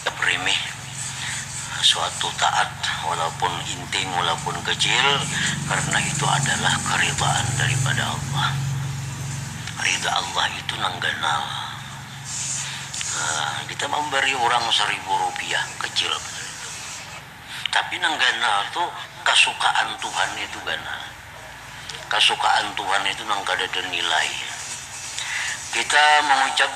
Tabrimih, suatu taat walaupun inting walaupun kecil karena itu adalah keridaan daripada Allah. Rida Allah itu nang ganal. Nah, kita mambari urang saribu rupiah, kecil banar itu. Tapi nang ganal tu kasukaan Tuhan itu ganal. kasukaan Tuhan itu nang kadada nilai. Kita mangucap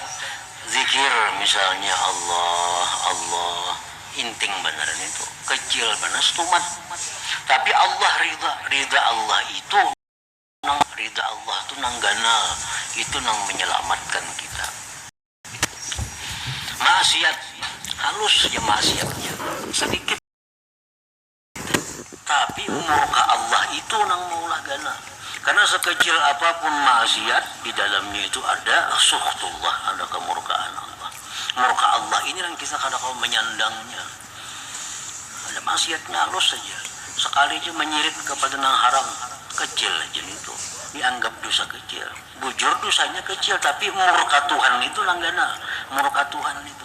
dzikir misalnya Allah, Allah, inting banar nitu, kecil banar stumat. Tapi Allah ridha, ridha Allah itu nang, ridha Allah tu nang ganal, itu nang menyelamatkan kita. Maksiat, halus ja maksiatnya, sedikit. Tapi umur ka Allah itu nang maulah ganal. Karena sekecil apapun maksiat di dalamnya itu ada sukhtullah, ada kemurkaan Allah. Murka Allah ini nang kita kada kawa manyandangnya. Ada maksiatnya halus haja, sekali haja manyirik kepada nang haram, kecil haja nitu, dianggap dosa kecil. Bujur dosanya kecil tapi murka Tuhan itu nang ganal, murka Tuhan itu.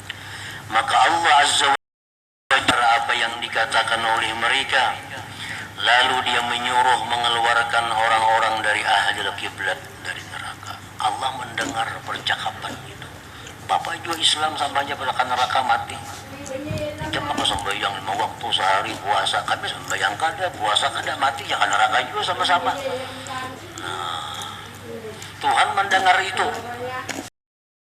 Maka Allah Azza wa Jalla mengingkari apa yang dikatakan oleh mereka, lalu Dia menyuruh mengeluarkan orang-orang dari ahlil qiblat dari neraka. Allah mendengar percakapan itu. Bapa jua Islam sama haja ka neraka mati. Ikam maka sambahyang lima waktu sehari, puasa, kami sambahyang kada, puasa kada, mati ja ka neraka jua sama-sama. Nah, Tuhan mendengar itu.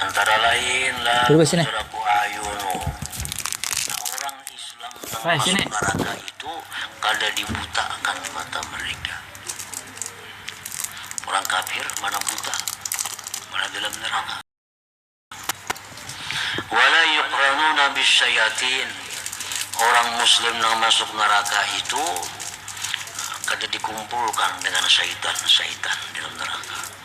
Antara lain lah Pajaraku Ayu nu. Nah orang Islam nang masuk neraka itu kada dibuta akan mata mereka. Orang kafir mana buta, mana dalam neraka. Wala yuqranuna bisyayatin, orang Muslim nang masuk neraka itu kada dikumpulkan dengan syaitan-syaitan dalam neraka.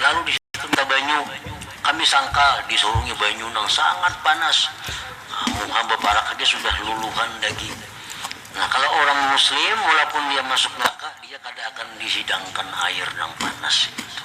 Lalu disitum ka banyu. Kami sangka disurungi banyu nang sangat panas. Muha baparak haja sudah luluhan daging. Nah kalo urang muslim walaupun dia masuk neraka dia kada akan dihidangkan air nang panas itu.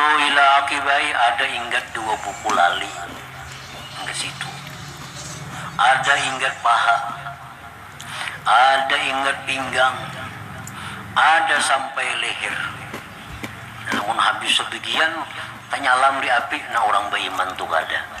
Ui laki bae ada inggat dua buku lali nda situ. Ada inggat paha, ada inggat pinggang, ada sampai leher. Nah mun habis sebegian tanyalam di api nah urang beiman tu kada.